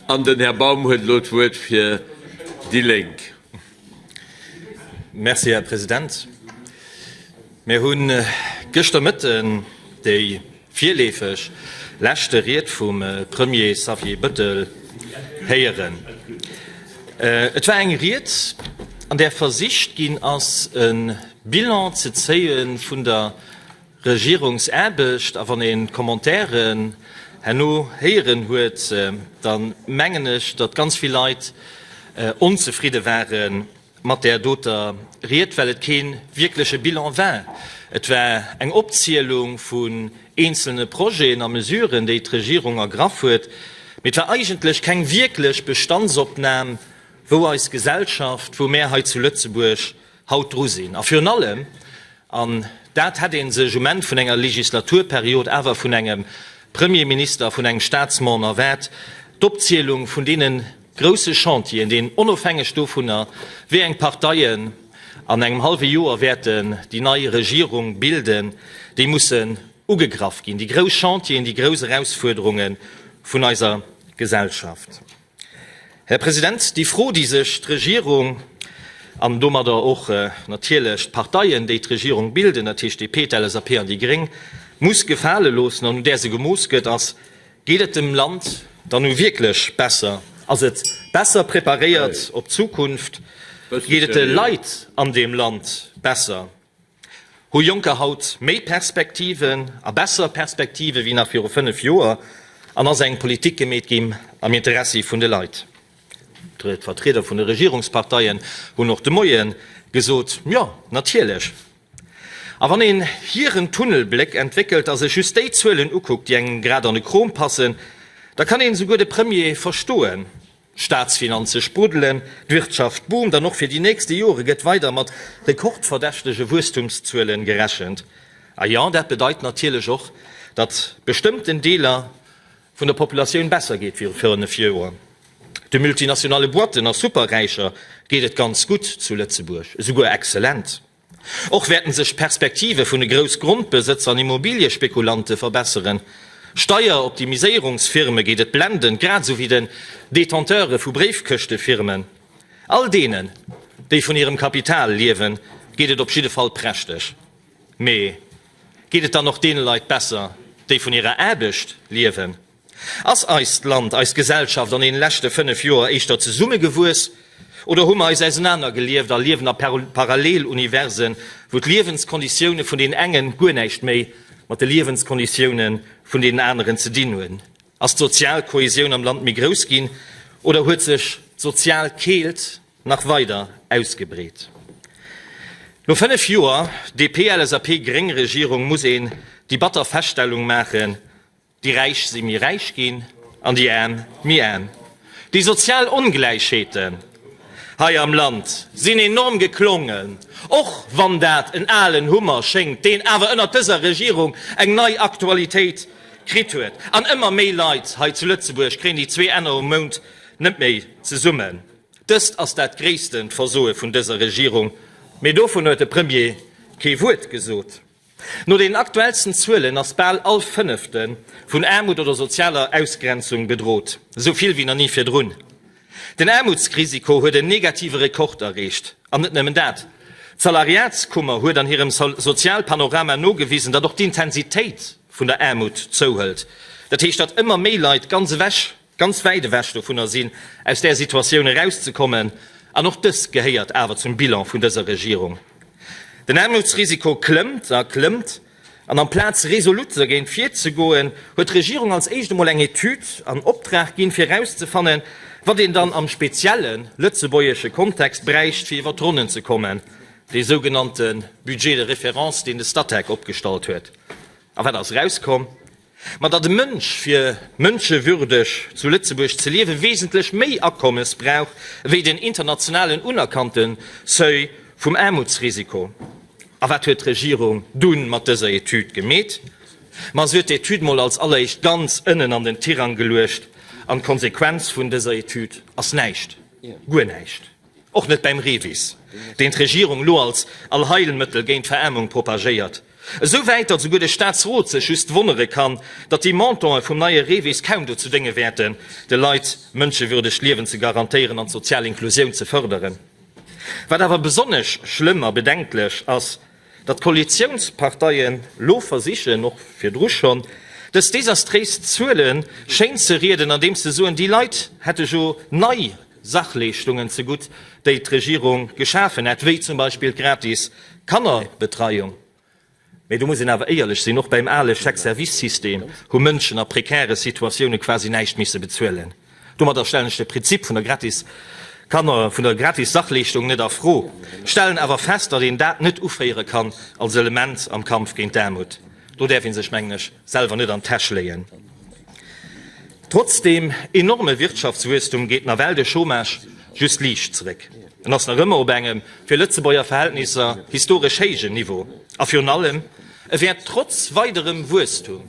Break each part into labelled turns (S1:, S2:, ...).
S1: An den Här Baum huet elo d'Wuert fir déi Lénk.
S2: Merci, Här President. Mir hu gëschter Mëtten déi virleefeg leschte Ried vum Premier Xavier Bettel héieren. Et war eng Ried, an där versicht ginn ass, e Bilan ze zéie vun der Regierungsaarbecht. A wann een d'Commentairen herno héieren huet, da mengen ech, datt ganz vill Leit onzefridde ware mat där doter Ried, well et kee wierkleche Bilan war. Et war eng Opzielung vun eenzelne Projeten a Mesuren, déi d'Regierung ergraff huet, mee et war eigentlech keng wierklech Bestandsopnam, wou eis Gesellschaft, wou mär hei zu Lëtzebuerg haut dru sinn a virun allem, an dat hätt ee sech um Enn vun enger Legislaturperiod awer vun engem Premierminister, vun engem Statsmon erwaart, d'Opzielung vun deene grouse Chantieren, deen onofhängeg dovunner, wéi eng Parteien an engem hallwe Joer wäerten déi nei Regierung bilden, déi mussen ugegraff ginn, déi grouss Chantieren, déi grouss Erausfuerderunge vun eiser Gesellschaft. Här President, déi Fro, déi sech d'Regierung an domadder och natierlech d'Parteien, déi d'Regierung bilden, dat heescht d'DP, d'LSAP an déi Gréng, muss gefale loossen an un där se gemooss gëtt, ass, Geet et dem Land dann nu wierklech besser? Ass et besser preparéiert op d'Zukunft? Geet et de Leit an deem Land besser? Hu Jonker haut méi Perspektiven a besser Perspektive wéi nach viru 5 Joer? An ass eng Politik gemeet gi am Interessi vun de Leit? D'Vertrieder vun de Regierungsparteien hunn och de Moie gesot, Jo, natierlech. A wann een hiren Tunnelbléck entwéckelt a sech just déi Zuelen ukuckt, déi engem grad an de Krom passen, da kann een esouguer de Premier verstoen. D'Staatsfinanze spruddelen, d'Wirtschaft boomt an och fir déi nächste Jore gëtt weider mat rekordverdächtege Wuesstumszuele gerechent. A jo, dat bedeit natierlech och, datt bestëmmten Deeler vun der Populatioun besser geet wéi viru 5 Joer. De multinationale Boîten a Superräicher geet et ganz gutt zu Lëtzebuerg, esouguer exzellent. Och wäerten sech d'Perspektive vun de Groussgrondbesëtzer an Immobiliëspekulante verbesseren. Steieroptimiséierungsfirme geet et blendend, grad esou wéi den Detenteure vu Bréifkëschtefirmen. All deenen, déi vun hirem Kapital liewen, geet et op jidde Fall prächteg. Mee geet et dann och deene Leit besser, déi vun hirer Aarbecht liewen? Ass eist Land, eis Gesellschaft an deene leschte 5 Joer éischter zesummegewuess oder hu mer eis ausenanergelieft a liewen a Paralleluniversen, wou d'Liewenskonditioune vun den engen guer näischt méi mat de Liewenskonditioune vun deenen aneren ze dinn hunn? Ass d'sozial Kohäsioun am Land méi grouss ginn oder huet sech d'sozial Keelt nach weider ausgebreet? No 5 Joer DP-LSAP-Gréng-Regierung muss een déi batter Feststellung maachen, Déi Räich si méi räich ginn an déi Aarm méi aarm. Déi sozial Ongläichheeten hei am Land sinn enorm geklongen, och wann dat en alen Hummer schéngt, deen awer ënnert dëser Regierung eng nei Aktualitéit kritt huet. An ëmmer méi Leit hei zu Lëtzebuerg kréien déi zwee Enner um Mount net méi zesummen. Dëst ass dat gréissten Versoe vun dëser Regierung, mee dovun huet de Premier kee Wuert gesot. No den aktuellsten Zuelen ass bal all Fënnefte vun Aarmut oder sozialer Ausgrenzung bedrot, esou vill wéi nach ni virdrun. Den Aarmutsrisiko huet en negative Rekord erreecht. An net nëmmen dat, d'Salariatskummer huet an hirem Sozialpanorama nogewisen, datt och d'Intensitéit vun der Aarmut zouhëlt. Dat heescht, datt ëmmer méi Leit ganz ewech ganz wäit ewech dovunner sinn, aus där Situatioun erauszekommen, an och dëst gehéiert awer zum Bilan vun dëser Regierung. Den Aarmutsrisiko klëmmt a klëmmt, an amplaz resolut dergéint virzegoen, huet d'Regierung als éischt emol eng Etüd an Optrag ginn, fir erauszefannen, wat een dann am spezielle lëtzebuergesche Kontext bräicht, fir iwwer d'Ronnen ze kommen, dee sougenannte Budget de référence, deen de Statec opgestallt huet. A wat ass erauskomm? Ma datt e Mënsch fir mënschewürdeg zu Lëtzebuerg ze liewe wesentlech méi Akommes brauch ewéi den internationalen unerkannte Seuil vum Aarmutsrisiko. A wat huet d'Regierung dunn mat dëser Etüd gemeet? Ma se huet d'Etüd mol als alleréischt ganz ënnen an den Tirang geluecht an d'Konsequenz vun dëser Etüd ass näischt, guer näischt. Och net beim Revis, deen d'Regierung elo als Allheilmëttel géint d'Veraarmung propagéiert. Esou wäit, datt esouguer de Staatsrot sech just wonnere kann, datt déi Montanten vum neie Revis kaum dozou dénge wäerten, de Leit mënschewürdegt Liewen ze garantéieren an d'sozial Inklusioun ze fërderen. Wat awer besonnesch schlëmm a bedenklech ass, Datt d'Koalitiounsparteien lo versichen, och virdru schonn, dës desastréis Zuele schéinzerieden, andeems se soen, déi Leit hätte jo nei Sachleeschtungen zegutt, déi d'Regierung geschafen hätt, wéi zum Beispill d'gratis Kannerbetreiung. Mee do muss een awer éierlech sinn, och beim ale Chèque-service-System hu Mënschen a prekäre Situatioune quasi näischt misse bezuelen. Domadder stellen ech de Prinzip vun der gratis Kanner vun der gratis Sachleeschtung net a Fro, stellen awer fest, datt een dat net uféiere kann als Element am Kampf géint d'Aarmut. Do däerf ee sech, mengen ech, selwer net an d'Täsch léien. Trotz dem enorme Wirtschaftswuesstum geet nawell de Chômage just liicht zeréck. En ass nach ëmmer op engem, fir Lëtzebuerger Verhältnisser, historesch héijen Niveau. A virun allem, e wäert trotz weiderem Wuesstum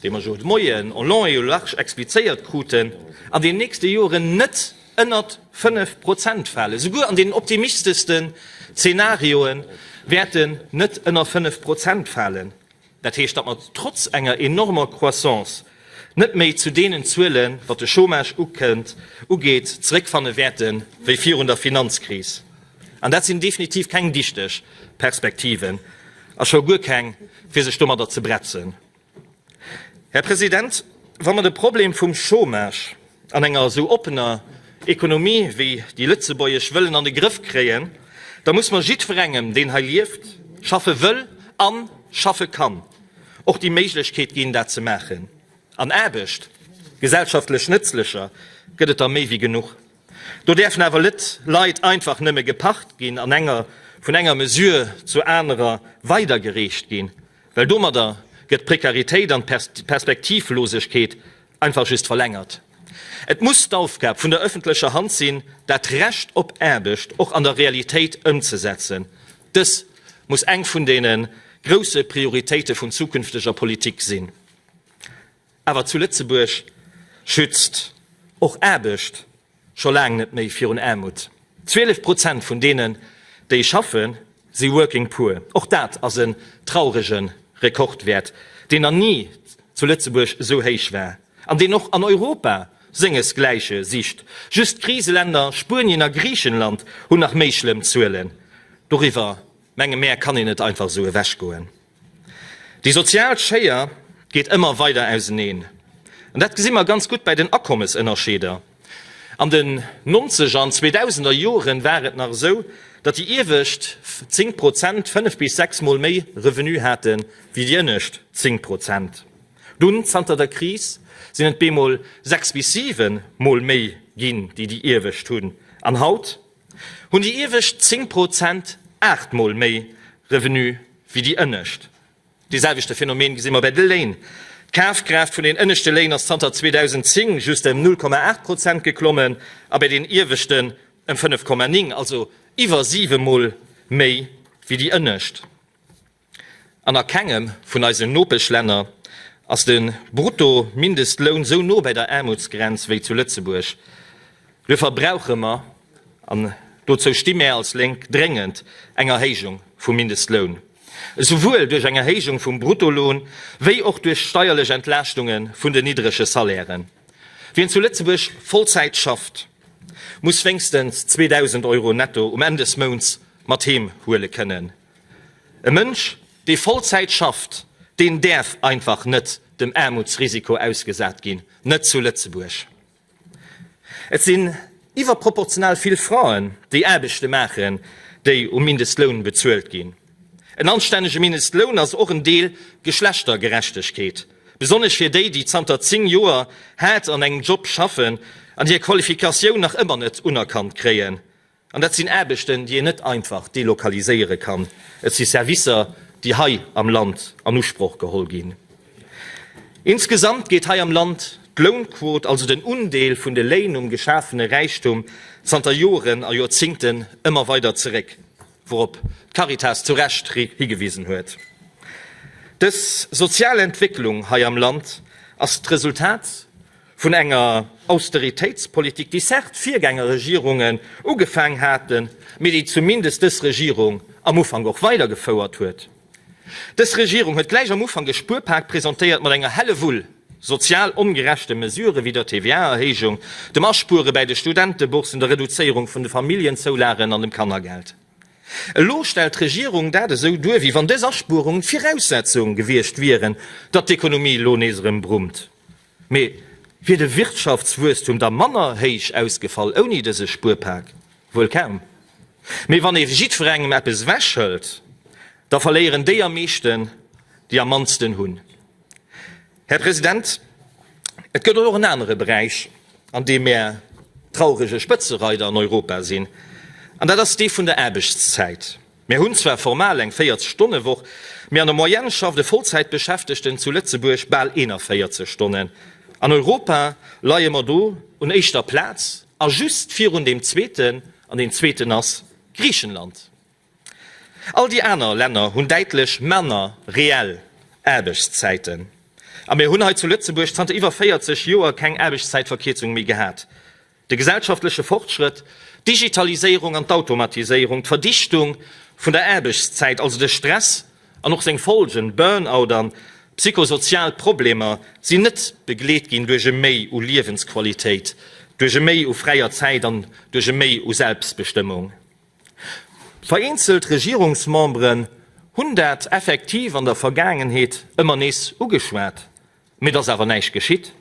S2: dee mer jo de Moien en long et en large explizéiert kruten, an den nächste Joren net ënnert 5 Prozent falen, esouguer an deenen optimisteschste Zeenarioe wäert en net ënner 5 Prozent falen. Dat heescht, datt mer trotz enger enormer Croissance net méi zu deenen Zuelen, wat de Chômage ugeet, zeréckfanne wäerte wéi virun der Finanzkris. An dat sinn definitiv keng dichteg Perspektiven, a scho guer keng, fir sech domadder ze bretzen. Här President, wa mer de Problem vum Chômage an enger esou oppener Ekonomie wéi déi lëtzebuergesch wëllen an de Grëff kréien, da muss mer jiddwerengem, deen hei lieft, schaffe wëll a schaffe kann, och déi Méiglechkeet ginn, dat ze maachen. An Aarbecht, gesellschaftlech nëtzlecher, gëtt et der méi wéi genuch. Do däerfen awer net Leit einfach nëmme geparkt ginn an enger vun enger Mesure zur anerer weidergereecht ginn, well domadder gëtt d'Prekaritéit an d'Perspektivlosegkeet einfach just verlängert. Et muss d'Aufgab vun der öffentlecher Hand sinn, dat Recht op Aarbecht och an der Realitéit ëmzesetzen. Dës muss eng vun deene grousse Prioritéite vun zukünfteger Politik sinn. Awer zu Lëtzebuerg schützt och Aarbecht scho laang net méi virun Aarmut. 12 Prozent vun deenen, déi schaffen, si working poor. Och dat ass en traurege Rekordwäert, deen nach ni zu Lëtzebuerg esou héich war an deen och an Europa sengesgläiche sicht. Just d'Kriseländer Spuenien a Griichenland hunn nach méi schlëmm Zuelen. Doriwwer, menge mär, kann een net einfach esou ewechgoen. Déi sozial Schéier geet ëmmer weider auseneen. An dat gesi mer ganz gutt bei den Akommesënnerscheeder. An den Nonzeger an Zweedausender Jore war et nach esou, datt déi iewescht zéng Prozent fënnef bis sechs Mol méi Revenu hate wéi déi ënnescht zéng Prozent. Dunn, zanter der Kris, sinn et bemol sechs bis siwe Mol méi ginn, déi déi iewescht hunn. An haut? hunn déi iewescht 10 Pro zent aachtmol méi Revenu wéi déi ënnescht. Dee selwechte Phänomen gesi mer bei de Léin. D'Kafkraaft vun den ënneschte Léin ass zanter 2010 just ëm 0,8 Pro zent geklommen a bei den ieweschten ëm 5,9, also iwwer siwemol méi wéi déi ënnescht. An a kengem vun eisen Nopeschlänner ass de Bruttomindestloun esou no bei der Aarmutsgrenz wéi zu Lëtzebuerg. Duerfir brauche mer, an dozou sti mär als Lénk, dréngend eng Erhéijung vum Mindestloun, esouwuel duerch eng Erhéijung vum Bruttoloun wéi och duerch steierlech Entlaaschtunge vun den niddrege Salairen. Wien zu Lëtzebuerg Vollzäit schafft, muss wéinstens 2.000 Euro netto um Enn des Mounts mat heem huele kënnen. E Mënsch, dee Vollzäit schafft, deen däerf einfach net dem Aarmutsrisiko ausgesat ginn, net zu Lëtzebuerg. Et sinn iwwerproportional vill Fraen, déi Aarbechte maachen, déi um Mindestloun bezuelt ginn. En anstännege Mindestloun ass och en Deel Geschlechtergerechtegkeet, besonnesch fir déi, déi zanter 10 Joer haart an engem Job schaffen an hir Qualifikatioun nach ëmmer net unerkannt kréien, An dat sinn Aarbechten, déi een net einfach delokaliséiere kann. Et si Servicer, déi hei am Land an Usproch geholl ginn. Insgesamt geet hei am Land d'Lounquot, also den Undeel vun de Léin um geschafene Räichtum, zanter Joren a Joerzingten ëmmer weider zeréck, wourop d'Caritas zu Recht higewisen huet. Dës sozial Entwécklung hei am Land ass d'Resultat Vun enger Austeritéitspolitik, déi certes d'Virgängerregierungen ugefaang haten, mee déi zumindest dës Regierung am Ufank och weidergefouert huet. Dës Regierung huet gläich am Ufank e Spuerpak presentéiert mat enger Hellewull sozial ongerechte Mesurë wéi der TVA-Erhéijung, dem Aspuere bäi de Studenteboursen, der Reduzéierung vun de Familljenzoulagen an dem Kannergeld. Elo stellt d'Regierung dat esou duer, wéi wann dës Aspuerungen d'Viraussetzung gewiescht wieren, datt d'Ekonomie elo nees erëm brummt. Mee wier de Wirtschaftswuesstum da manner héich ausgefall ouni dëse Spuerpak? Wuel kaum. Mee wann ee jiddwerengem eppes ewechhëlt, da verléieren déi am meeschten, déi am mannsten hunn. Här President, et gëtt och en anere Beräich, an deem mär traurege Spëtzereider an Europa sinn, an dat ass dee vun der Aarbechtszäit. Mir hunn zwar formal eng 40 Stonne Woch, mee an der Moyenne schafft e Vollzäitbeschäftegten zu Lëtzebuerg bal 41 Stonnen. An Europa leie mer do un éischter Plaz a just virun deem zweeten, an deen zweeten ass Griichenland. All déi aner Länner hunn däitlech manner reell Aarbechtszäiten. A mir hunn hei zu Lëtzebuerg zanter iwwer 40 Joer keng Aarbechtszäitverkierzung méi gehat. De gesellschaftleche Fortschrëtt, d'Digitaliséierung an d'Automatiséierung, d'Verdichtung vun der Aarbechtszäit, also de Stress an och seng Folgen, Burnout an psychosozial Problemer, sinn net begleet ginn duerch e Méi u Liewensqualitéit, duerch e Méi u fräier Zäit an duerch e Méi u Selbstbestëmmung. Vereenzelt Regierungsmemberen hunn dat effektiv an der Vergaangenheet ëmmer nees ugeschwat, Mee et ass awer näischt geschitt,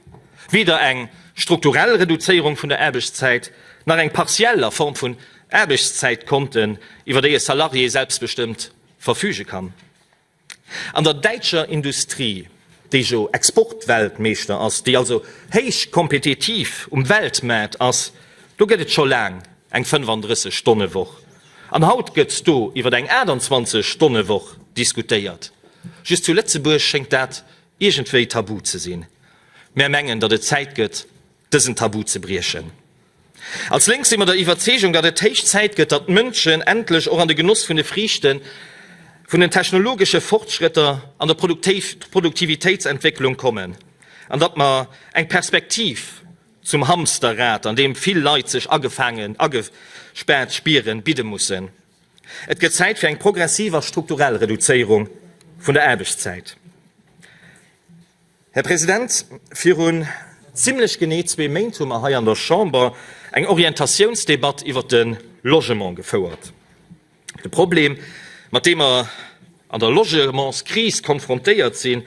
S2: weder eng strukturell Reduzéierung vun der Aarbechtszäit nach eng partiell a Form vun Aarbechtszäitkonten, iwwer déi e Salarié selbstbestëmmt verfüge kann. An der däitscher Industrie, déi jo Exportweltmeeschter ass, déi also héich kompetitiv um Weltmaart ass, do gëtt et scho laang eng 35 Stonne Woch. An haut gëtt do iwwer eng 28 Stonne Woch diskutéiert. Just zu Lëtzebuerg schéngt dat iergendwéi tabu ze sinn. Mär mengen, datt et Zäit gëtt, dësen Tabu ze briechen. Als Lénk si mer der Iwwerzeegung, datt et héich Zäit gëtt, datt d'Mënschen endlech och an de Genoss vun de Friichte vun den technologesche Fortschrëtter an der Produktivitéitsentwécklung kommen an datt mer eng Perspektiv zum Hamsterrad, an deem vill Leit sech agefaangen, agespaart spieren, bidde mussen. Et gëtt Zäit fir eng progressiv a strukturell Reduzéierung vun der Aarbechtszäit. Här President, virun zimlech genee zwee Méint hu mer hei an der Chamber eng Orientatiounsdebatt iwwert de Logement gefouert. De Problem, mat deem mer an der Logementskris konfrontéiert sinn,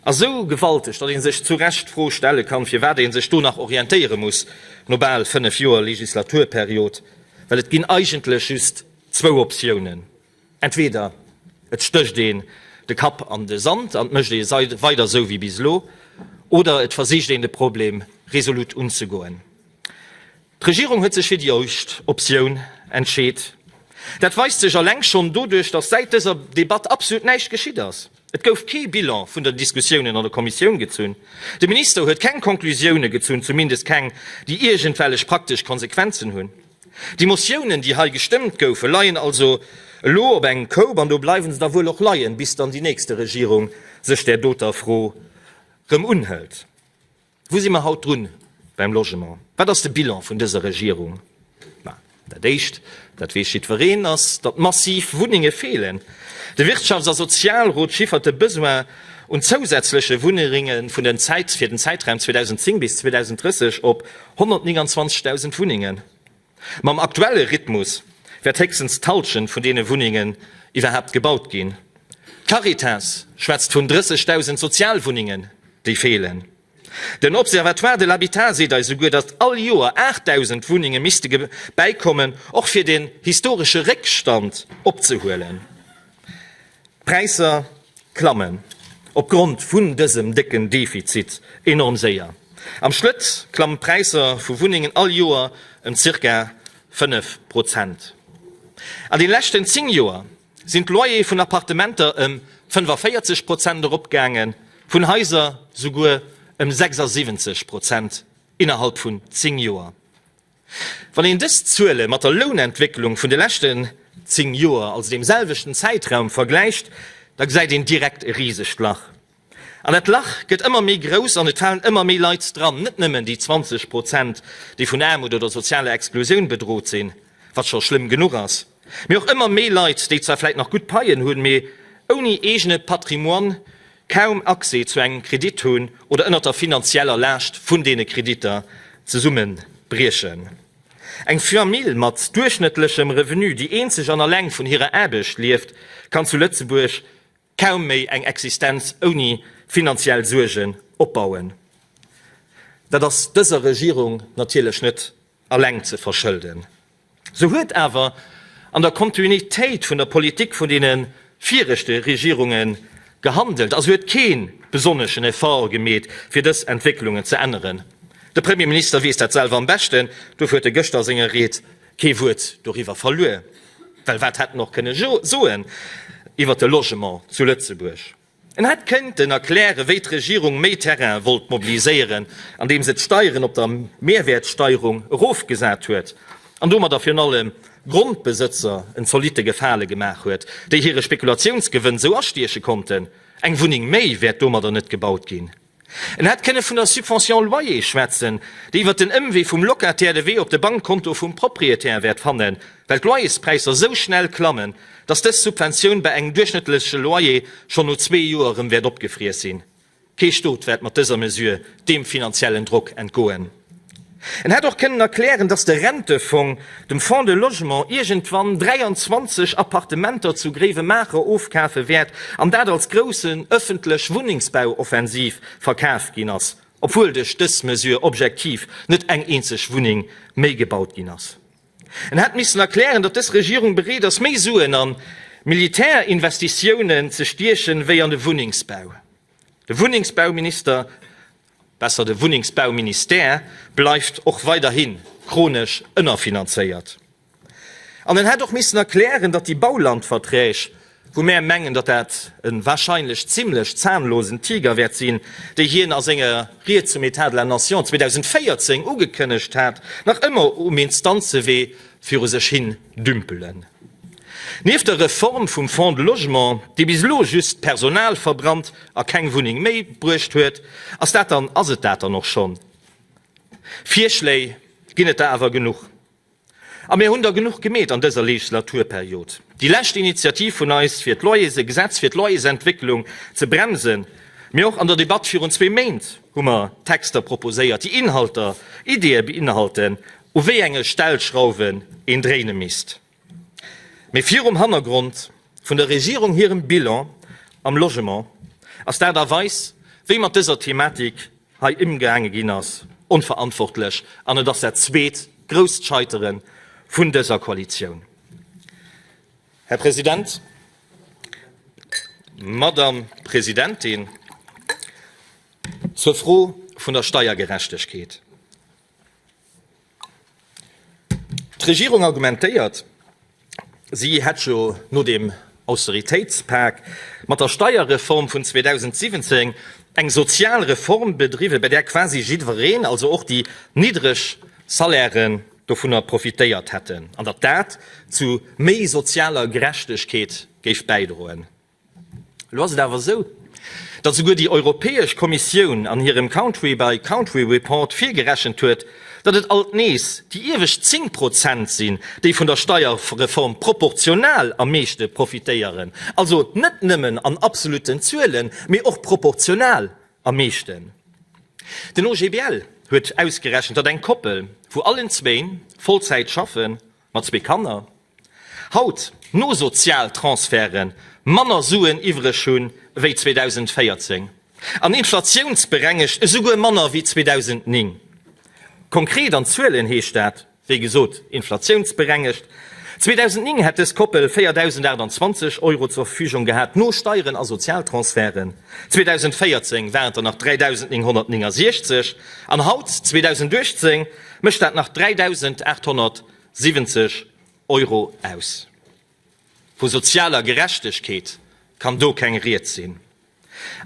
S2: ass esou gewalteg, datt ee sech zu Recht d'Fro stelle kann, firwat ee sech do nach orientéiere muss no bal fënnef Joer Legislaturperiod, Well et ginn eigentlech just zwou Optiounen, entweder et stécht een de Kapp an de Sand an et mécht ee weider esou wéi bis elo, oder et versicht een de Problem resolut unzegoen. D'Regierung huet sech fir déi éischt Optioun entscheet. Dat weist sech alleng schonn doduerch, datt säit dëser Debatt absolut näischt geschitt ass. Et gouf kee Bilan vun den Diskussiounen an der Kommissioun gezunn. De Minister huet keng Konklusiounen gezunn, zumindest keng, déi iergendwellech praktesch Konsequenzen hunn. Déi Motiounen, déi hei gestëmmt goufen, leien also elo op engem Koup, an do bleiwe se da wuel och leien, bis dann déi nächste Regierung sech där doter Fro erëm unhëlt. Wou si mer haut drun beim Logement? Wat ass de Bilan vun dëser Regierung? Ma, dat Éischt, dat weess jiddwereen, ass, datt massiv Wunnenge feelen. De Wirtschafts a Sozialrot chiffert de Besoin un zousätzleche Wunneringe fir den Zäitraum 2010 bis 2030 op 129.000 Wunnengen. Mam aktuelle Rhythmus wäert héchstens d'Halschent vun deene Wunnengen iwwerhaapt gebaut ginn. D'Caritas schwätzt vun 30.000 Sozialwunnengen, déi feelen. Den Observatoire de l'habitat seet eis souguer, datt all Joer 8.000 Wunnenge misste bäikommen, och fir den historesche Réckstand opzehuelen. D'Präisser klammen op Grond vun dësem décken Defizit enorm séier. Am Schlëtt klammen d'Präisser vu Wunnengen all Joer ëm zirka 5 Prozent. An den leschten 10 Joer sinn d'Loyere vun Appartementer ëm 45 Prozent eropgaangen, vun Haiser souguer ëm 76 Prozent innerhalb vun 10 Joer. Wann een dës Zuele mat der Lounentwécklung vun de leschten 10 Joer, also dem selwechten Zäitraum, vergläicht, da gesäit een direkt e risegt Lach. An dat Lach gëtt ëmmer méi grouss an et falen ëmmer méi Leit dran, net nëmmen déi 20 Prozent, déi vun Aarmut oder sozialer Exklusioun bedrot sinn, wat scho schlëmm genuch ass, Mee och ëmmer méi Leit, déi zwar vläit nach gutt Paien hunn, mee ouni eegene Patrimoine kaum Accès zu engem Kredit hunn oder ënnert der finanzieller Laascht vun deene Kreditter zesummebriechen. Eng Famille mat duerchschnëttlechem Revenu, déi eenzeg an alleng vun hirer Aarbecht lieft, kann zu Lëtzebuerg Kaum méi eng Existenz ouni finanziell Suergen opbauen. Dat ass dëser Regierung natierlech net alleng ze verschëlden. Se huet awer an der Kontinuitéit vun der Politik vun deene viregte Regierunge gehandelt a se huet kee besonneschen Effort gemeet, fir dës Entwécklungen ze änneren. De Premierminister weess dat selwer am beschten, dofir huet e gëschter a senger Ried Kee Wuert doriwwer verluer, well wat hätt en och kënne soen iwwer de Logement zu Lëtzebuerg? En hätt këinten erklären, wéi d'Regierung méi Terrain wollt mobiliséieren, andeem se d'Steieren op der Mehrwertsteierung erofgesat huet an domadder virun allem Grondbesëtzer en zolitte Gefale gemaach huet, déi hire Spekulatiounsgewënn esou astieche konnten. Eng Wunneng méi wäert domadder net gebaut ginn. En hätt kënne vun der Subvention loyer schwätzen, déi iwwert den Ëmwee vum Locataire de Wee op de Bankkonto vum Propriétaire wäert fannen, well d'Loyerspräisser esou schnell klammen, dass dës Subventioun bei engem duerchschnëttleche Loyer schonn no zwee Joer erëm wäert opgefriess sinn. Kee Stot wäert mat dëser Mesure deem finanziellen Drock entgoen. En hätt och kënnen erklären, datt de Rentefong dem Fonds de Logement iergendwann 23 Appartementer zu Gréiwemaacher ofkafe wäert an dat als groussen ëffentlech Wunnengsbauoffensiv verkaf ginn ass, obwuel duerch dës Mesure objektiv net eng eenzeg Wunneng méi gebaut ginn ass. En hätt missen erklären, datt dës Regierung bereet ass, méi Suen a Militärinvestitiounen ze stiechen, wéi an de Wunnengsbau. De Wunnengsbauminister Besser, de Wunnengsbauministère bleift och weiderhi chronesch ënnerfinanzéiert. An en hätt och missen erklären, datt déi Baulandverträg, wou mär mengen, datt dat e wahrscheinlech zimlech zahnlosen Tiger wäert sinn, déi hien a senger Ried zum Etat de la Nation 2014 ugekënnegt hat, nach ëmmer um Instanzewee viru sech hin dümpelen. Nieft der Reform vum Fonds de Logement, déi bis elo just Personal verbrannt a keng Wunneng méi bruecht huet, ass dat dann, ass et dat dann och schonn? Virschléi ginn et der awer genuch. A mir hunn der genuch gemeet an dëser Legislaturperiod. Déi lescht Initiativ vun eis fir d'Loyers, e Gesetz fir d'Loyersentwécklung ze bremsen, mee och an der Debatt virun zwee Méint hu mer Texter proposéiert, déi Inhalter, Ideeë beinhalten u wéi enge Stellschrauwen een dréine misst, mee virum Hannergrond vun der Regierung hirem Bilan am Logement ass d'Aart a Weis, wéi mat dëser Thematik hei ëmgaange ginn ass, onverantwortlech an et ass dat zweet grousst Scheitere vun dëser Koalitioun. Här President, Madame Presidentin, zur Fro vun der Steiergerechtegkeet. D'Regierung argumentéiert, si hätt jo no dem Austeritéitspak mat der Steierreform vun 2017 eng sozial Reform bedriwwen, bei där quasi jiddwereen, also och déi niddreg Salairen, dovunner profitéiert hätten an datt dat zu méi sozialer Gerechtegkeet géif bäidroen. Elo ass et awer esou, datt esouguer déi Europäesch Kommissioun an hirem Country by Country Report virgerechent huet, datt et alt nees déi iewescht 10 Prozent sinn, déi vun der Steierreform proportional am meeschte profitéieren, also net nëmmen an absolutten Zuelen, mee och proportional am meeschten. Den OGBL huet ausgerechent, datt eng Koppel, wou allen zwéin Vollzäit schaffen, Mat zwee Kanner haut no Sozialtransferten manner Suen iwwreg hunn ewéi 2014 an inflatiounsberengegt esouguer manner ewéi 2009. Konkret an Zuelen heescht dat, wéi gesot, inflatiounsberengegt, 2009 hätt dës Koppel 4.028 Euro zur Verfügung gehat, no Steieren a Sozialtransferten, 2014 waren et der nach 3.969 an haut, 2018, mécht dat nach 3.870 Euro aus. Vu sozialer Gerechtegkeet kann do keng Rieds sinn.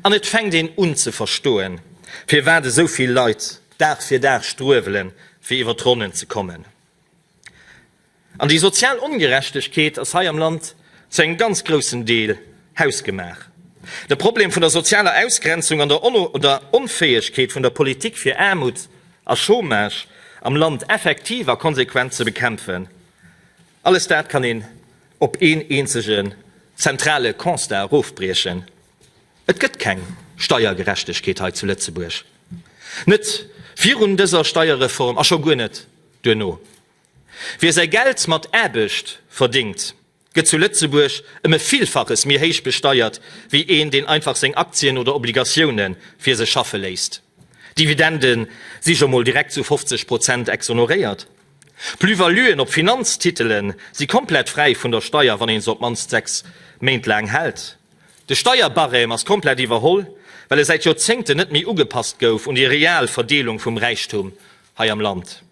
S2: An et fänkt een un ze verstoen, firwat esou vill Leit Dag fir Dag struewele fir iwwer d'Ronnen ze kommen. An déi sozial Ongerechtegkeet ass hei am Land zu engem ganz groussen Deel hausgemaach. De Problem vun der sozialer Ausgrenzung an der Onfäegkeet vun der Politik fir Aarmut a Chômage am Land effektiv a konsequent ze bekämpfen, alles dat kann een op een eenzegen zentrale Constat erofbriechen, Et gëtt keng Steiergerechtegkeet hei zu Lëtzebuerg, net virun dëser Steierreform a scho guer net duerno. Wie säi Geld mat Aarbecht verdingt, gëtt zu Lëtzebuerg ëm e Villfaches méi héich besteiert wéi een, deen einfach seng Aktien oder Obligatioune fir sech schaffe léisst. Dividende si jo mol direkt zu 50 Prozent exoneréiert. Plus-valuen op Finanztitele si komplett fräi vun der Steier, wann ee se op d'mannst 6 Méint laang hält. De Steierbarème ass komplett iwwerholl, well e säit Joerzéngten net méi ugepasst gouf un déi real Verdeelung vum Räichtum hei am Land.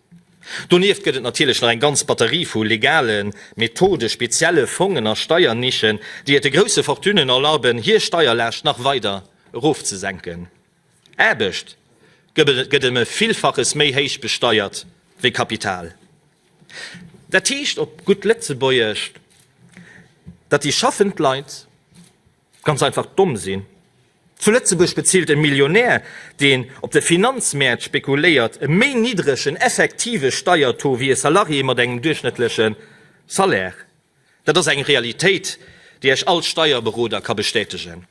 S2: Donieft gëtt et natierlech nach eng ganz Batterie vu legalen Methode, spezielle Fongen a Steiernischen, déi et de grousse Fortunen erlaben, hir Steierlaascht nach weider erofzesenken. Aarbecht gëtt ëm e Villfaches méi héich besteiert wéi Kapital. Dat heescht op gutt Lëtzebuergesch, datt déi schaffend Leit, Ganz einfach domm sinn. Zu Lëtzebuerg bezilt e Millionär, deen op de Finanzmäert spekuléiert, e méi niddregen effektive Steiertaux wéi e Salarié mat engem duerchschnëttleche Salaire. Dat ass eng Realitéit, déi Iech all Steierberoder ka bestätegen.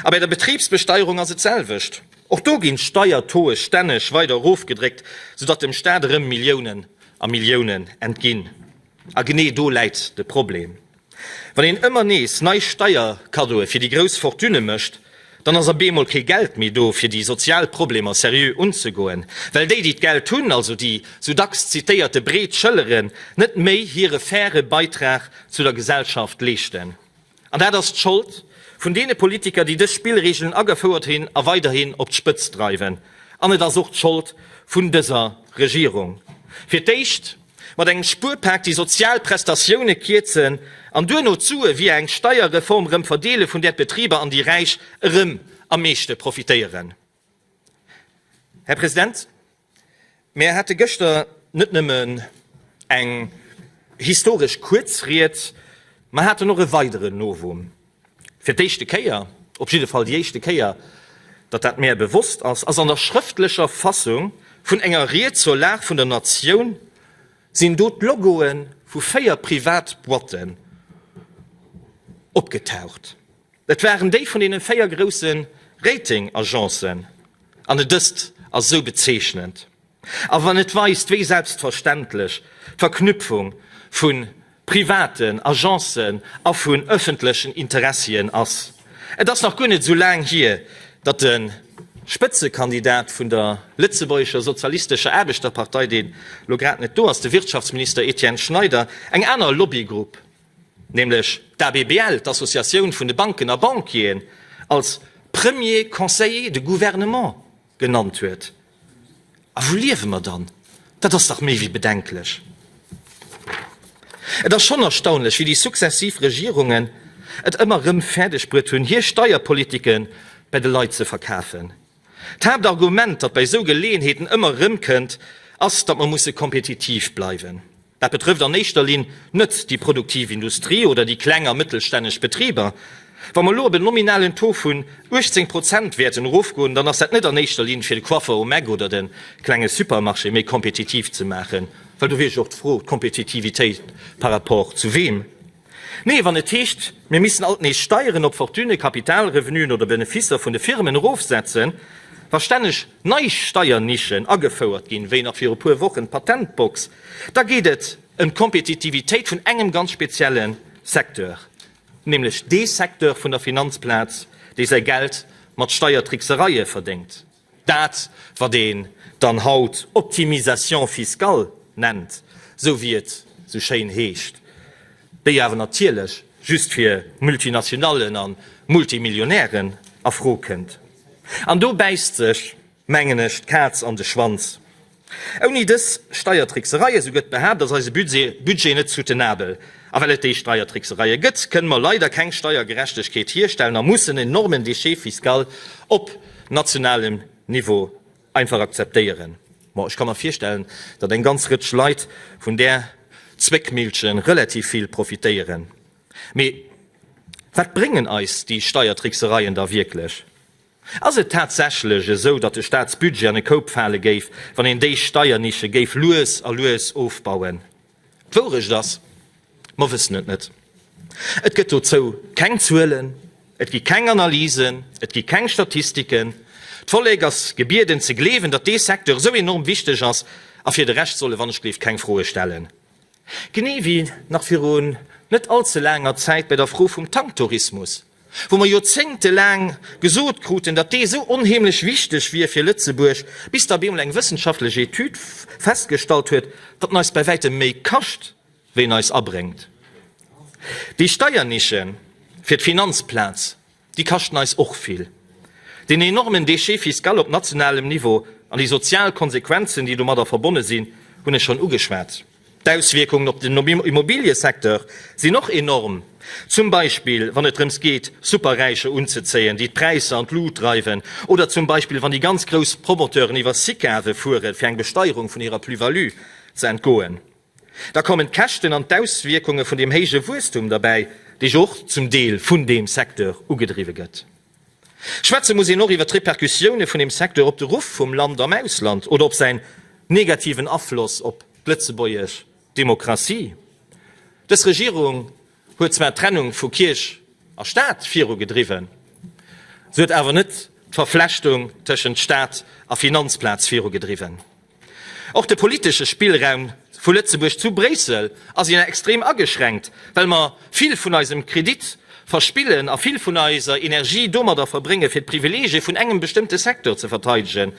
S2: A bei der Betribsbesteierung ass et d'selwecht. Och do ginn d'Steiertauxe stänneg weider erofgedréckt, soudatt dem Staat erëm Milliounen a Milliounen entginn. A genee do läit de Problem. Wann een ëmmer nees nei Steierkaddoe fir déi grouss Fortunë mécht, dann ass a bemol kee Geld méi do fir déi sozial Problemer seriö unzegoen, well déi, déi d'Geld hunn, also déi sou dacks zitéierte breet Schëlleren, net méi hire faire Beitrag zu der Gesellschaft leeschten. An dat ass d'Schold vun deene Politiker, déi dës Spillregeln agefouert hunn a weiderhin op d'Spëtzt dreiwen. An et ass och d'Schold vun dëser Regierung. Fir d'éischt. Mat engem Spuerpak déi sozial Prestatioune kierzen an duerno d'Sue via eng Steierreform erëm verdeele vun där d'Betriber an déi Räich erëm am meeschte profitéieren. Här President, mir hate gëschter net nëmmen eng historesch kuerz Ried, mer haten och e weideren Novum. Fir d'éischte Kéier, op jidde Fall déi éischte Kéier, datt dat mäer bewosst ass, ass an der schrëftlecher Fassung vun enger Ried zur Lag vun der Natioun, sinn do d'Logoe vu véier Privatboîten opgetaucht. Et waren déi vun deene véier grousse Rating-Agencen, an et ëst a sou bezeechnend. A wann et weist, wéi selbstverständlech d'Verknüpfung vu privaten Agencen a vun ëffentlechen Interessien ass. Et ass nach guer net esou laang hier, datt de Spëtzekandidat vun der lëtzebuergescher sozialistescher Aarbechterpartei, dee lo grad net do ass, de Wirtschaftsminister Etienne Schneider, eng aner Lobbygrupp, nämlech d'ABBL, d'Associatioun vun de Banken a Banquieren, als Premier Conseiller de Gouvernement Genannt huet. A wou liewe mer dann? Dat ass dach méi wéi bedenklech. Et ass schonn erstaunlech, wéi déi successiv Regierungen et ëmmer erëm fäerdegbruet hunn, hir Steierpolitike bei de Leit ze verkafen. D'Haaptargument, dat bei esou Geleeënheeten ëmmer erëm kënnt, ass, datt mer musse kompetitiv bleiwen. Dat betrëfft an éischter Linn net déi produktiv Industrie oder déi kleng a mëttelstänneg Betriber. Wa mer elo op en nominalen Taux vun 18 Prozent wäerten erofgoen, dann ass dat net an éischter Linn, fir de Coiffeur um Eck oder de klenge Supermarché méi kompetitiv ze maachen, well do wier jo och d'Fro, d'Kompetitivitéit par rapport zu weem? Mee wann et heescht, mir missten alt nees Steieren op Fortunë, Kapitalrevenuen oder Benefisser vun de Firmen erofsetzen, wa stänneg nei Steiernischen agefouert ginn, wéi nach viru puer Wochen d'Patentbox, da geet et ëm d'Kompetitivitéit vun engem ganz spezielle Secteur, nämlech dee Secteur vun der Finanzplaz, dee säi Geld mat Steiertricksereie verdéngt. Dat, wat een dann haut Optimisation fiscale nennt, esou wéi et esou schéin heescht, déi awer natierlech just fir Multinationallen a Multimillionären a Fro kënnt. An do bäisst sech, mengen ech, d'Kaz an de Schwanz. Ouni dës Steiertricksereie, sou gëtt behaapt, ass eise Budget net soutenabel. A well et déi Steiertricksereie gëtt, kënne mer leider keng Steiergerechtegkeet hierstellen a mussen en enormen Déchet fiscal op nationalem Niveau einfach akzeptéieren. Bon, ech ka mer virstellen, datt eng ganz Rëtsch Leit vun där Zwéckmillche relativ vill profitéieren. Mee wat bréngen eis déi Steiertricksereien da wierklech? Ass et tatsächlech esou, datt de Staatsbudget an e Koup fale géif, wann een déi Steiernische géif lues a lues ofbauen? D'Wourecht ass, mer wëssen et net. Et gëtt dozou keng Zuelen, et gi keng Analysen, et gi keng Statistiken. D'Vollek ass gebieden ze gleewen, datt dee Secteur esou enorm wichteg ass, a fir de Rescht solle wann ech gleeft keng Froe stellen. Genee wéi nach virun net all ze laanger Zäit bei der Fro vum Tanktourismus. wou mer Joerzéngte laang gesot kruten, datt dee sou onheemlech wichteg wier fir Lëtzebuerg, bis da op eemol eng wëssenschaftlech Etüd festgestallt huet, datt en eis bäi wäitem méi kascht, wéi en eis abréngt. Déi Steiernische fir d'Finanzplaz, déi kaschten eis och vill. Deen enormen Déchet fiscal op nationalem Niveau an déi sozial Konsequenzen, déi domadder verbonne sinn, hunn ech schonn ugeschwat. D'Auswierkungen op den Immobiliësecteur sinn och enorm, zum Beispill wann et drëms geet Superräicher unzezéien, déi d'Präisser an d'Lut dreiwen, oder zum Beispill wann déi ganz grouss Promoteuren iwwer Sicave fueren, fir eng Besteierung vun hirer Plus-value ze entgoen. Da kommen d'Käschten an d'Auswierkunge vun deem héije Wuesstum derbäi, dee jo och zum Deel vun deem Secteur ugedriwwe gëtt. Schwätze muss een och iwwer d'Repercussioune vun dem Secteur op de Ruff vum Land am Ausland oder op säin negativen Afloss op d'lëtzebuergesch Demokratie. Dës Regierung huet zwar d'Trennung vu Kierch a Staat viru gedriwwen, se huet awer net d'Verflechtung tëschent Staat a Finanzplaz viru gedriwwen. Och de politesche Spillraum vu Lëtzebuerg zu Bréissel ass ien extrem ageschränkt, well mer vill vun eisem Kredit verspillen a vill vun eiser Energie domadder verbréngen, fir d'Privileegie vun engem bestëmmte Secteur ze verteidegen.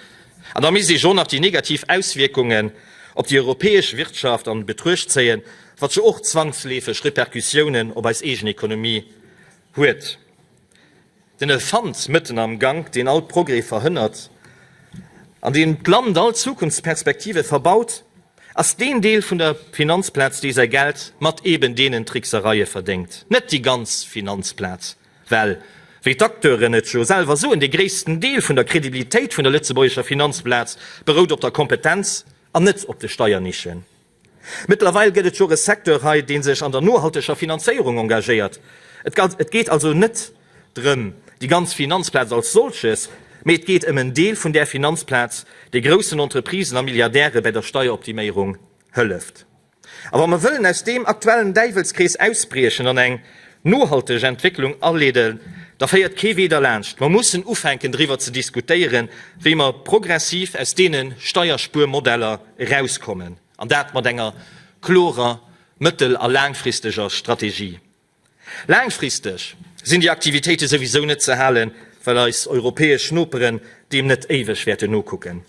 S2: An da misst ee jo nach déi negativ Auswierkungen op déi europäesch Wirtschaft an Betruecht zéien, wat jo och zwangsleefeg Repercussiounen op eis eegen Ekonomie huet. Den Elefant mëtten am Gank, deen all Progrès verhënnert an deen d'Land all Zukunftsperspektive verbaut, ass deen Deel vun der Finanzplaz, dee säi Geld mat eben deenen Tricksereie verdéngt, net déi ganz Finanzplaz. Well, wéi d'Acteuren et jo selwer soen, dee gréissten Deel vun der Credibilitéit vun der lëtzebuergescher Finanzplaz berout op der Kompetenz an net op de Steiernischen. Mëttlerweil gëtt et scho e Secteur hei, dee sech an der nohalteger Finanzéierung engagéiert. Et geet also net drëm déi ganz Finanzplaz als solches, mee et geet ëm en Deel vun där Finanzplaz, dee groussen Entreprisen a Milliardäre bäi der Steieroptiméierung hëlleft. A wa mer wëllen aus deem aktuellen Däiwelskrees ausbriechen an eng nohalteg Entwécklung aleeden, da féiert kee Wee derlaanscht, mer mussen ufänken driwwer ze diskutéieren, wéi mer progressiv aus deene Steierspuermodeller, erauskommen, an dat mat enger klorer mëttel a laangfristeger Strategie. Laangfristeg sinn déi Aktivitéite souwisou net ze halen, well eis europäesch Noperen deem net éiweg wäerten nokucken.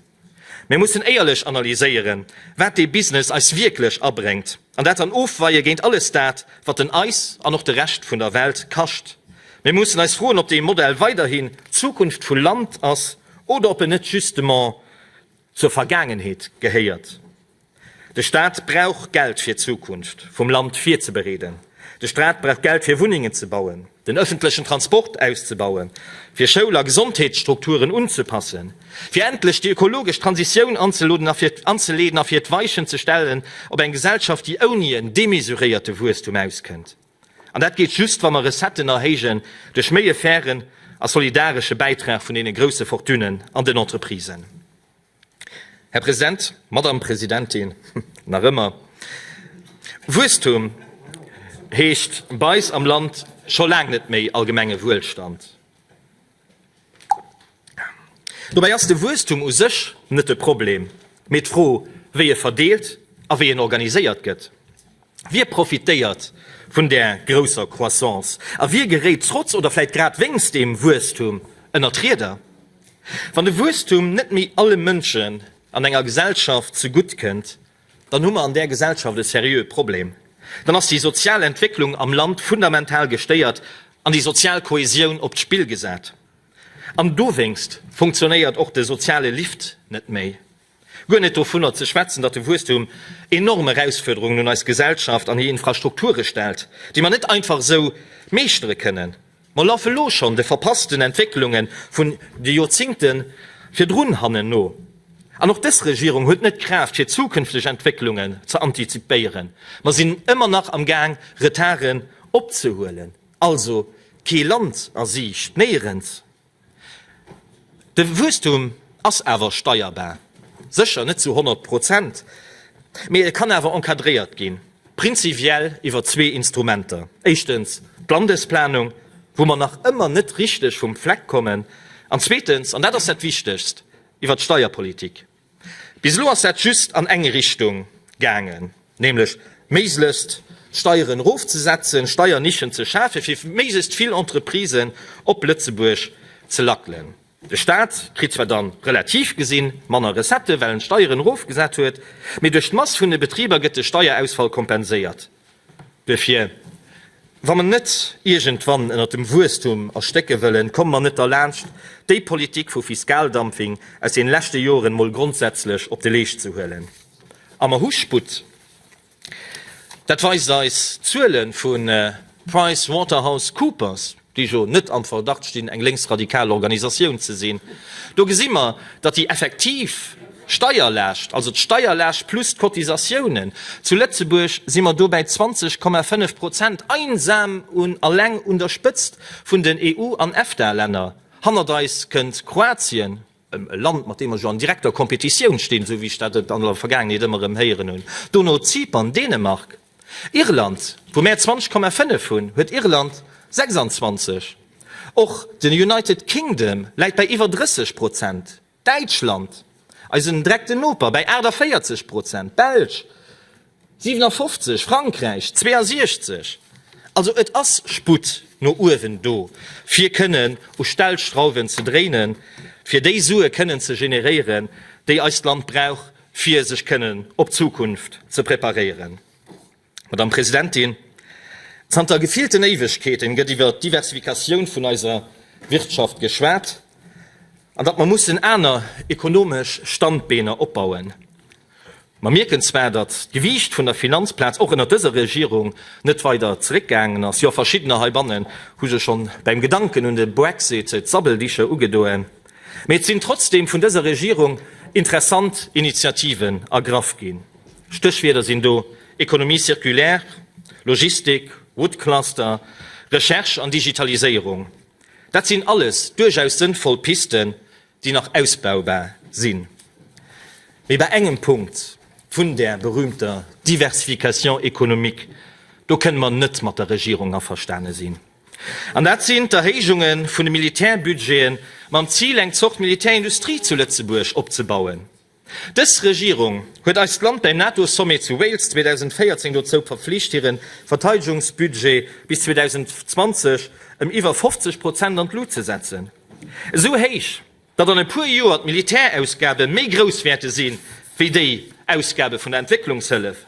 S2: Mir mussen éierlech analyséieren, wat dee Business eis wierklech abréngt, an dat dann ofweie géint alles dat, wat en eis an och de Rescht vun der Welt kascht. Mir mussen eis froen, ob dee Modell weiderhin d'Zukunft vu Land ass oder ob en net justement, Zur Vergaangenheet gehéiert. De Staat brauch Geld fir d'Zukunft vum Land virzebereeden. De Staat brauch Geld fir Wunnengen ze bauen, den ëffentlechen Transport auszebauen, fir Schoul a Gesondheetsstrukturen unzepassen, fir endlech déi ökologesch Transitioun anzeleeden a fir d'Weichen ze stellen op eng Gesellschaft, déi ouni en demesuréierte Wuesstum auskënnt. An dat geet just, wa mer Recetten erhéijen duerch méi e fairen a solidaresche Bäitrag vun deene grouse Fortunen an den Entreprisen. Här President, Madame Presidentin, nach ëmmer Wuesstum heescht bei eis am Land scho laang net méi allgemenge Wuelstand. Dobäi ass de Wuesstum u sech net de Problem, mee d'Fro, wéi e verdeelt a wéi en organiséiert gëtt. Wie profitéiert vun där grousser Croissance a wie geréit trotz oder vläit grad wéinst deem Wuesstum ënner d'Rieder? Wann de Wuesstum net méi alle Mënschen an enger Gesellschaft zegutt kënnt, Dann hu mer an där Gesellschaft e seriöe Problem. Dann ass déi sozial Entwécklung am Land fundamental gestéiert an déi sozial Kohäsioun op d'Spill gesat. An dowéinst funktionéiert och de soziale Lift net méi. Guer net dovunner ze schwätzen, datt de Wuesstum enorm Erausfuerderungen un eis Gesellschaft an hir Infrastrukture stellt, déi mer net einfach esou meeschtere kënnen. Mer laffe lo schonn de verpassten Entwécklunge vun de Joerzingte virdrun hannen no. An och dës Regierung huet net d'Kraaft, fir zukünfteg Entwécklungen ze antizipéieren. Mer sinn ëmmer nach am Gaang, Retarden opzehuelen. Also kee Land a Siicht, néierens! De Wuesstum ass awer steierbar, sécher net zu 100 Prozent, mee e kann awer encadréiert ginn, prinzipiell iwwer zwee Instrumenter, éischtens d'Landesplanung, wou mer nach ëmmer net richteg vum Fleck kommen, an zweetens, an dat ass dat Wichtegst, iwwer d'Steierpolitik. Bis elo ass dat just an eng Richtung gaangen, nämlech méiglechst d'Steieren erofzesetzen, Steiernischen ze schafen, fir méiglechst vill Entreprisen op Lëtzebuerg ze lackelen. De Staat kritt zwar dann, relativ gesinn, manner Recettë, well en d'Steieren erofgesat huet, mee duerch d'Mass vun de Betriber gëtt de Steierausfall kompenséiert. Duerfir, wa mer net iergendwann ënnert dem Wuesstum erstécke wëllen, komme mer net derlaanscht, déi Politik vu Fiskaldumping aus den leschte Joren emol grondsätzlech op de Leescht ze huelen. A mer hu Sputt. Dat weist eis d'Zuele vu PriceWaterhouseCoopers. déi jo net am Verdacht stinn, eng lénksradikal Organisatioun ze sinn, do gesi mer, datt déi effektiv Steierlaascht, also d'Steierlaascht plus d'Cotisatiounen, zu Lëtzebuerg si mer do bäi 20,5 Prozent, einsam un alleng un der Spëtzt vun den EU an EFTA-Länner. Hannert eis kënnt Kroatien. e Land mat deem mer jo an direkter Competitioun stinn, esou wéi ech dat an der Vergaangenheet ëmmer erëm héieren hunn, dono Zypern, Dänemark, Irland, wou mär 20,5 hunn, huet Irland 26, och den United Kingdom läit bäi iwwer 30 Prozent, Däitschland, eisen direkten Noper, bäi 48 Prozent, d'Belsch, 57, Frankräich 62. Also et ass Sputt no uewen do, fir kënnen u Stellschrauwen ze dréinen, fir déi Sue kënnen ze generéieren, déi eist Land brauch, fir sech kënnen op d'Zukunft ze preparéieren. Madame Presidentin, zanter gefillten Éiwegkeeten gëtt iwwer d'Diversifikatioun vun eiser Wirtschaft geschwat an datt mer mussen aner ekonomesch Standbeener opbauen. Mer mierken zwar, datt d'Gewiicht vun der Finanzplaz och ënnert dëser Regierung net weider zeréckgaangen ass. Jo, verschiddener heibannen hu sech schonn beim Gedanken un de Brexit d'Sabbeldicher ugedoen. Mee et sinn trotzdem vun dëser Regierung interessant Initiativen ergraff ginn. Stéchwierder sinn do Économie circulaire, Logistik, Wood Cluster, Recherche an Digitaliséierung. Dat sinn alles duerchaus sënnvoll Pisten, déi nach ausbaubar sinn, mee bei engem Punkt vun där berühmter Diversification économique, do kënne mer net mat der Regierung averstane sinn, an dat sinn d'Erhéijunge vun de Militärbudgete mam Zil, eng Zort Militärindustrie zu Lëtzebuerg opzebauen. Dës Regierung huet eist Land beim NATO-Sommet zu Wales 2014 dozou verflicht, hire Verteidegungsbudget bis 2020 ëm iwwer 50 Prozent an d'Lut ze setzen. Esou héich, datt an e puer Joer d'Militärausgabe méi grouss wäerte si wéi déi Ausgabe vun der Entwécklungshëllef.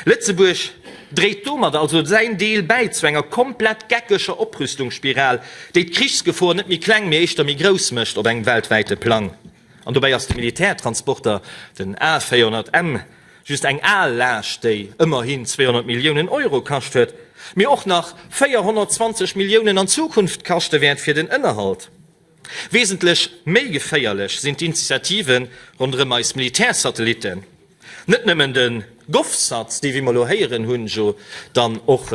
S2: Lëtzebuerg dréit domadder also säin Deel bäi zu enger komplett geckeger Oprüstungsspiral, déi d'Krichsgefor net méi kleng, mee éischter méi grouss mécht op engem weltwäite Plang. An dobäi ass de Militärtransporter, den A400M, just eng al Laascht, déi ëmmerhin 200 Milliounen Euro kascht huet, mee och nach 420 Milliounen an Zukunft kaschte wäert fir den Ënnerhalt. Wesentlech méi geféierlech sinn d'Initiative ronderëm eis Militärsatellitten. Net nëmmen de Govsats, déi, wéi mer elo héieren hunn, jo dann och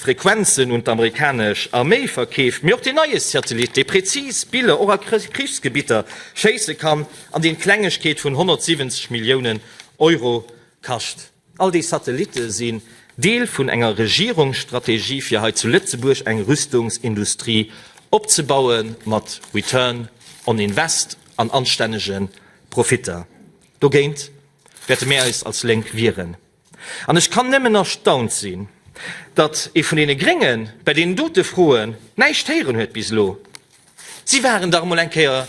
S2: Frequenzen un d'amerikanesch Arméi verkeeft, mee och deen neie Satellit, dee prezis Biller och a Krichsgebitter schéisse kann an deen d'Klengegkeet vun 170 Milliounen Euro kascht. All déi Satellitte sinn Deel vun enger Regierungsstrategie fir hei zu Lëtzebuerg eng Rüstungsindustrie opzebaue mat Return on Invest an anstännege Profitter. Dogéint wäerte mär eis als Lénk wieren. An ech kann nëmmen erstaunt sinn, datt ee vun deene Gréngen bei deenen dote Froen näischt héieren huet bis elo. Si waren dach emol eng Kéier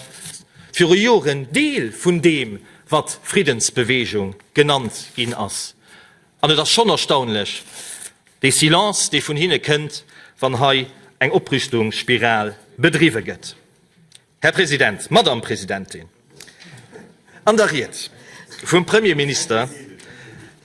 S2: viru Joren Deel vun deem, wat Friddensbewegung genannt ginn ass. An et ass schonn erstaunlech, dee Silence, dee vun hinne kënnt, wann hei eng Oprüstungsspiral bedriwwe gëtt. Här President, Madame Presidentin, an der Ried vum Premierminister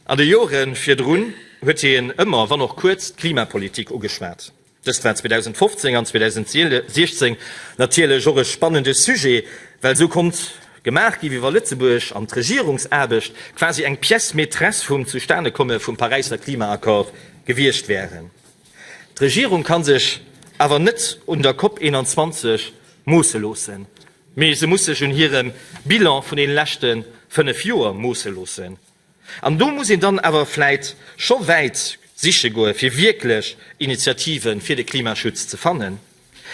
S2: an de Jore virdrun huet hien ëmmer, wann och kuerz, d'Klimapolitik ugeschwat. Dëst war 2015 an 2016 natierlech och e spannende Sujet, well esou konnt gemaach ginn, wéi wa Lëtzebuerg an d'Regierungsaarbecht quasi eng Pièce maîtresse vum Zustanekomme vum Paräisser Klimaaccord gewiescht wären. D'Regierung ka sech awer net un der Cop 21 moosse loossen, mee se muss sech un hirem Bilan vun deene leschte fënnef Joer moosse loossen. An do muss een dann awer vläit scho wäit siche goe fir wierklech Initiative fir de Klimaschutz ze fannen.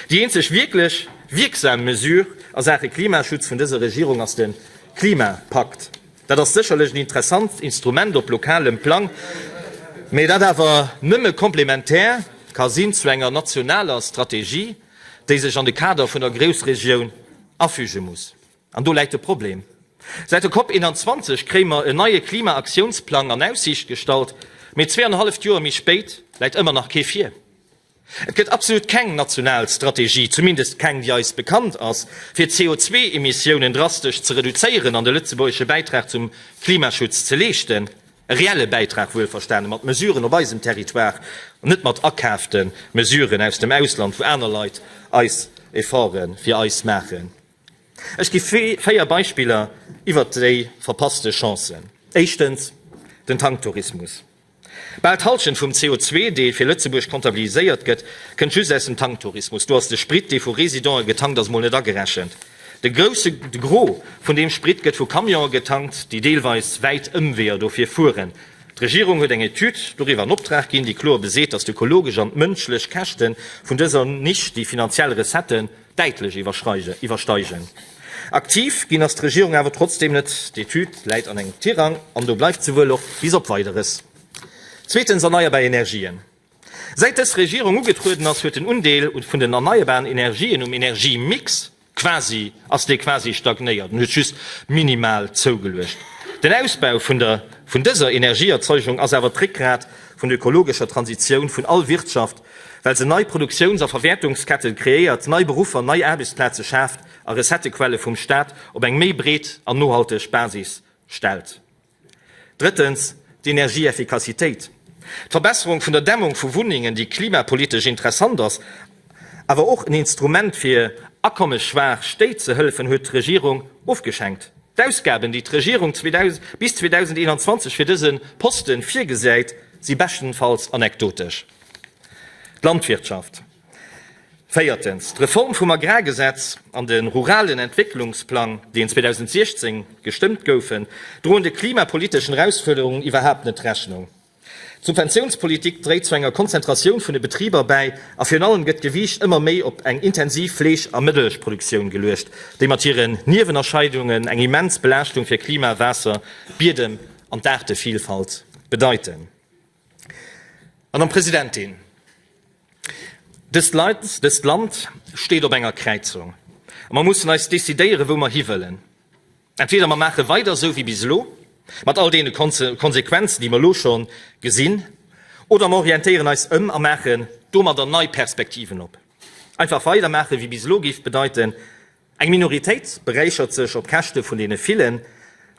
S2: Déi eenzeg wierklech wierksam Mesure a Saache Klimaschutz vun dëser Regierung ass de Klimapakt. Dat ass sécherlech en interessant Instrument op lokalem Plang, mä dat awer nëmme komplementär ka sinn zu enger nationaler Strategie, déi sech an de Kader vun der Groussregioun afüge muss. An do läit de Problem. Säit der Cop 21 kréie mer en neie Klima-Aktiounsplang an Aussiicht gestallt, mee zwee an e halleft Joer méi spéit läit ëmmer nach kee vir. Et gëtt absolut keng national Strategie, zumindest keng déi eis bekannt ass, fir d'CO2-Emissiounen drastesch ze reduzéieren an de lëtzebuergesche Bäitrag zum Klimaschutz ze leeschten. E reelle Bäitrag, wuelverstane mat Mesuren op eisem Territoire an net mat akaafte Mesuren aus dem Ausland, wou aner Leit eis Efforte fir eis maachen. Ech gi véier Beispiller iwwer déi verpasste Chancen. Éischtens, den Tanktourismus. Bal d'Hallschent vum CO, dee fir Lëtzebuerg comptabiliséiert gëtt, kënnt just aus dem Tanktourismus. Do ass de Sprit, dee vu Residente getankt ass, mol net agerechent. De Gros vun deem Sprit gëtt vu Camionen getankt, déi deelweis wäit Ëmweeër dofir fueren. D'Regierung huet eng Etüd doriwwer an Optrag ginn, déi kloer beseet, datt d'ökologesch an d'mënschlech Käschte vun dëser Nisch déi finanziell Recetten, däitlech iwwersteigen. Aktiv ginn ass d'Regierung awer trotzdeem net. D'Etüd läit an engem Tirang an do bleift se wuel och bis op Weideres. Zweetens, erneierbar Energien. Säit dës Regierung ugetrueden ass, huet den Undeel vun den erneierbaren Energien um Energiemix quasi ass dee quasi stagnéiert an huet just minimal zougeluecht. Den Ausbau vun dëser Energieerzeugung ass awer d'Réckgrat vun der ökologescher Transitioun vun all Wirtschaft well se nei Produktiouns a Verwäertungsketten kreéiert, nei Beruffer, nei Aarbechtsplaze schaaft a Recettequelle vum Staat op eng méi breet an nohalteg Basis stellt. Drëttens, d'Energieeffikassitéit. D'Verbesserung vun der Dämmung vu Wunnengen, déi klimapolitesch interessant ass, awer och en Instrument fir akommesschwaach Stéit ze hëllefen, huet d'Regierung ofgeschenkt. D'Ausgaben, déi d'Regierung bis 2021 fir dëse Posten virgesäit, si beschtenfalls anekdotesch. D'Landwirtschaft. Véiertens, d'Reform vum Agrargesetz an de ruralen Entwécklungsplang, deen 2016 gestëmmt goufen, droen de klimapoliteschen Erausfuerderungen iwwerhaapt net Rechnung. D'Subventiounspolitik dréit zu enger Konzentratioun vun de Betriber bäi a virun allem gëtt d'Gewiicht ëmmer méi op eng intensiv Fleesch a Mëllechproduktioun geluecht, déi mat hiren Niewenerscheidungen eng immens Belaaschtung fir Klima, Waasser, Biedem an d'Aartevillfalt bedeiten. Madame Presidentin, dëst Land steet op enger Kräizung, a mer mussen eis decidéieren, wou mer hiwëllen. Entweder mer maache weider esou wéi bis elo, mat all deene Konsequenzen, déi mer elo scho gesinn, oder mer orientéieren eis ëm a maachen domadder nei Perspektiven op. Einfach weidermaache wéi bis elo géif bedeiten, Eng Minoritéit beräichert sech op Käschte vun deene villen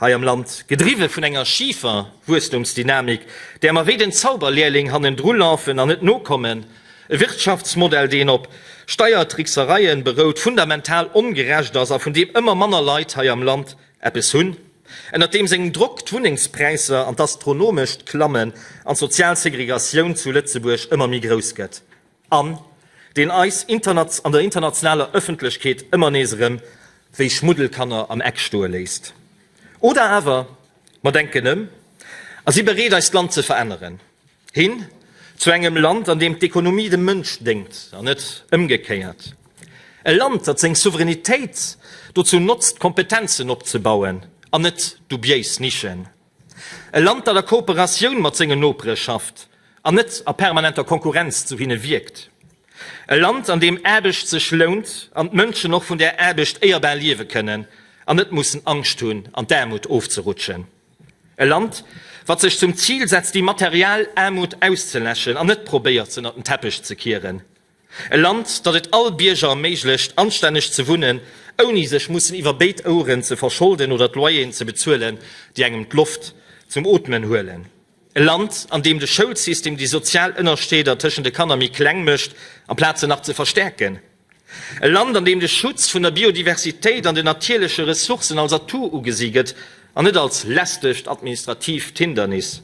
S2: hei am Land, gedriwwe vun enger schifer Wuesstumsdynamik, där mer wéi den Zauberlehrling hannendru lafen an net nokommen, e Wirtschaftsmodell, deen op Steiertricksereien berout, fundamental ongerecht ass a vun deem ëmmer manner Leit hei am Land eppes hunn, ënnert deem sengem Drock d'Wunnengspräisser an d'Astronomescht klammen an d'sozial Segregatioun zu Lëtzebuerg ëmmer méi grouss gëtt. an deen eis an der internationaler Ëffentlechkeet ëmmer nees erëm wéi Schmuddelkanner am Eck stoe léisst. Oder awer mer denken ëm a si bereet eist Land ze veränneren, hin zu engem Land, an deem d'Ekonomie dem Mënsch déngt an net ëmgekéiert, e Land, dat seng Souveränitéit dozou notzt, Kompetenzen opzebauen an net dubiéis Nischen E Land, dat a Kooperatioun mat sengen Nopere schafft an net a permanenter Konkurrenz zu hinne wierkt. E Land, an deem Aarbecht sech lount an d'Mënschen och vun där Aarbecht éierbar liewe kënnen an net mussen Angscht hunn, an d'Aarmut ofzerutschen. E Land, wat sech zum Zil setzt, déi material Aarmut auszeläschen an net probéiert, se ënnert den Teppech ze kieren. E Land, dat et all Bierger erméiglecht, anstänneg ze wunnen, ouni sech mussen iwwer béid Oueren ze verscholden oder d'Loyeren ze bezuelen, déi engem d'Loft zum Ootmen huelen. E Land, an deem de Schoulsystem déi sozial Ënnerscheeder tëschent de Kanner méi kleng mécht, amplaz se nach ze verstäerken. E Land, an deem de Schutz vun der Biodiversitéit an den natierleche Ressourcen als Atout ugesi gëtt, an net als lästegt administratiivt Hindernis.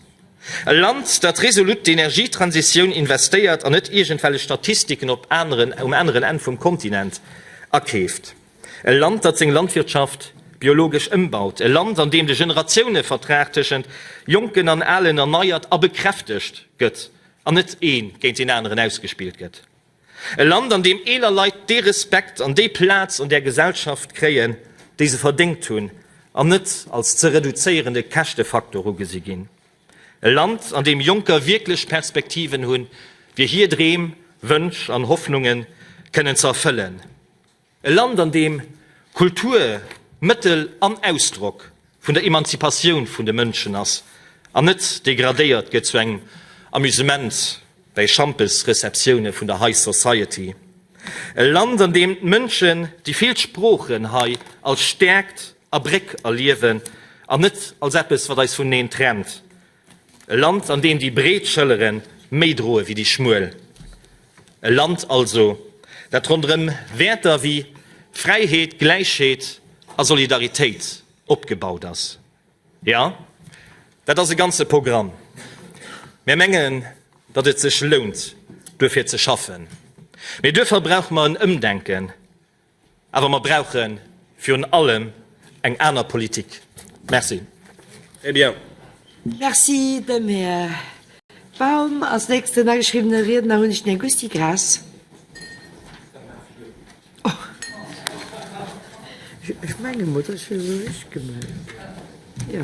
S2: E Land, dat resolut d'Energietransitioun investéiert an net iergendwellech Statistiken op aneren, um aneren Enn vum Kontinent akeeft. E Land, dat seng Landwirtschaft biologesch ëmbaut. E Land, an deem de Generatiounevertrag tëschent Jonken an Alen erneiert a bekräftegt gëtt an net ee géint deen aneren ausgespillt gëtt. E Land, an deem eeler Leit dee Respekt an déi Plaz an där Gesellschaft kréien, déi se verdéngt hunn, an net als ze reduzéierende Käschtefaktor ugesi ginn. E Land, an deem Jonker wierklech Perspektiven hunn, fir hir Dreem, Wënsch an Hoffnunge kënnen ze erfëllen. E Land an deem Kultur Mëttel an Ausdrock vun der Emanzipatioun vun de Mënschen ass an net degradéiert gëtt zu engem Amusement bäi Schampes-Receptioune vun der High Society. E Land an deem d'Mënschen déi vill Sproochen hei als Stäerkt a Bréck erliewen an net als eppes wat eis vuneneen trennt. E Land, an deem déi breet Schëllere méi droe wéi déi schmuel. E Land also, dat ronderëm Wäerter wéi Fräiheet, Gläichheet a Solidaritéit opgebaut ass. Jo, dat ass e ganze Programm. Mir mengen, datt et sech lount, duerfir ze schaffen. Mee duerfir brauche mer en Ëmdenken. Awer mer brauchen virun allem eng aner Politik. Merci. Très
S3: bien. Merci
S4: dem Här Baum. Als nächsten ageschriwwene Riedner hunn ech den Här Gusty Graas. Ech menge mol, dass ech fir esou ech gemellt hunn. Jo.